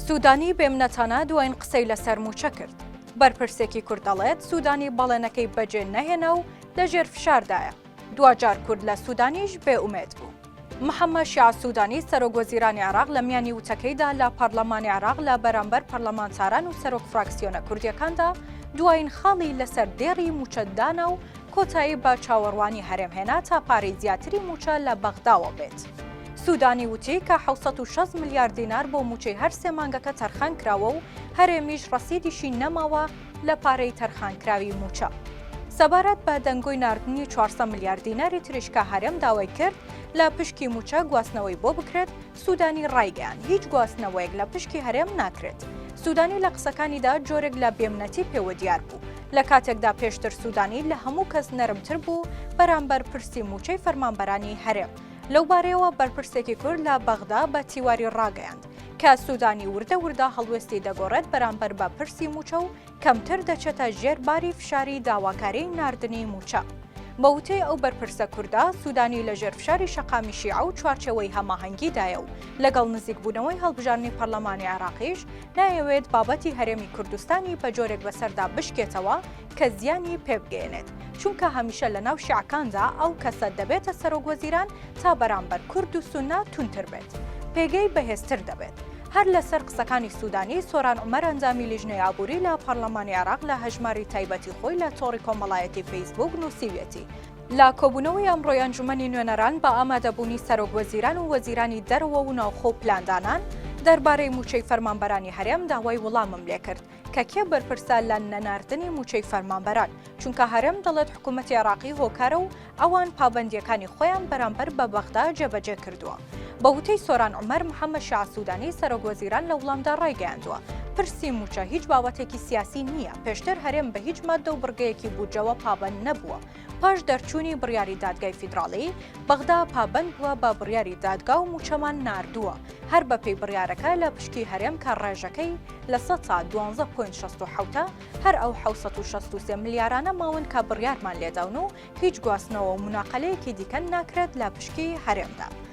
سوودانی بێ منەتانە دوایین قسەی لەسەر مووچە کرد. بەرپرسێکی کورد دەڵێت، سوودانی بەڵێنەکەی بەجێ نەهێنا و لە ژێر فشاردایە. دواجار کورد لە سوودانیش بێ ئومێد بوو. محەممەد شیاع سوودانی، سەرۆکوەزیرانی عێراق لە میانی وتەکەیدا لە پەڕڵەمانی عێراق لە بەرامبەر پەرلەمانتاران و سەرۆک فراکسیۆنە کوردییەکاندا دوایین خاڵی لەسەر دێڕی مووچە دانا و کۆتایی بە چاوەڕوانی هەرێم هێنا تا پارەی زیاتری مووچە لە بەغداوە بێت. سوودانی وتی کە حەوت سەد و شەست ملیار دینار بۆ مووچەی هەر سێ مانگەکە تەرخان کراوە و هەرێمیش ڕەسیدیشی نەماوە لە پارەی تەرخانکراوی مووچە. سەبارەت بە دەنگۆی ناردنی چوار سەد ملیار دیناری تریش کە هەرێم داوای کرد لە پشکی مووچە گواستنەوەی بۆ بکرێت، سوودانی ڕایگەیاند، هیچ گواستنەوەیەک لە پشکی هەرێم ناکرێت. سوودانی لە قسەکانیدا جۆرێک لە بێمنەتی پێوە دیار بوو، لە کاتێکدا پێشتر سوودانی لە هەموو کەس نەرمتر بوو بەرامبەر پرسی مووچەی فەرمانبەرانی هەرێم. لەو بارەیەوە بەرپرسێکی کورد لە بەغدا بە تیواری ڕاگەیاند کە سوودانی وردە وردە هەڵوێستی دەگۆڕێت بەرامبەر بە پرسی موچە و کەمتر دەچێتە ژێر باری فشاری داواکاری ناردنی موچە. بە وتەی ئەو بەرپرسە کوردە، سوودانی لە ژێر فشاری شەقامی شیعە و چوارچێوەی هەماهەنگیدایە و لەگەڵ نزیکبوونەوەی هەڵبژاردنی پەرلەمانی عێراقیش نایەوێت بابەتی هەرێمی کوردستانی بە جۆرێک بەسەردا بشکێتەوە کە زیانی پێ بگەیەنێت، چونکە هەمیشە لە ناو شیعەکاندا ئەو کەسە دەبێتە سەرۆک وەزیران تا بەرامبەر کورد و سوننە توندتر بێت، پێگەی بەهێزتر دەبێت. هەر لەسەر قسەکانی سودانی، سۆران عومەر ئەندامی لیژنەی ئابووری لە پارلەمانی عێراق لە هەژماری تایبەتی خۆی لە تۆڕی کۆمەڵایەتی فەیسبووک نووسیویەتی، لە کۆبوونەوەی ئەمڕۆی ئەنجومەنی نوێنەران بە ئامادەبوونی سەرۆک وەزیران و وەزیرانی دەرەوە و ناوخۆ و پلاندانان، دەربارەی مووچەی فەرمانبەرانی هەرێم داوای وڵامم لێکرد، کە کێ بەرپرسە لە نەناردنی مووچەی فەرمانبەران، چونکە هەرێم دەڵێت حکوومەتی عێراقی هۆکارە و ئەوان پابەندییەکانی خۆیان بەرامبەر بە بەغدا جێبەجێ کردووە. بە وتەی سۆران عومەر، محەممەد شیاع سوودانی، سەرۆکوەزیران لە وڵامدا ڕایگەیاندووە، پرسی مووچە هیچ باوەتێکی سیاسی نییە، پێشتر هەرێم بە هیچ ماددە و بڕگەیەکی بودجەوە پابەند نەبووە، پاش دەرچوونی بڕیاری دادگای فیدراڵی، بەغدا پابەند بووە بە بڕیاری دادگا و مووچەمان ناردووە، هەر بەپێی بڕیارەکە لە پشکی هەرێم کە ڕێژەکەی لە سەد تا دوانزە پۆینت شەست و حەوت ە، هەر ئەو حەوت سەد و شەست و سێ ملیارانە ماون کە بڕیارمان لێداون و هیچ گواستنەوە و موناقەلەیەکی دیکە ناکرێت لە پشکی هەرێمدا.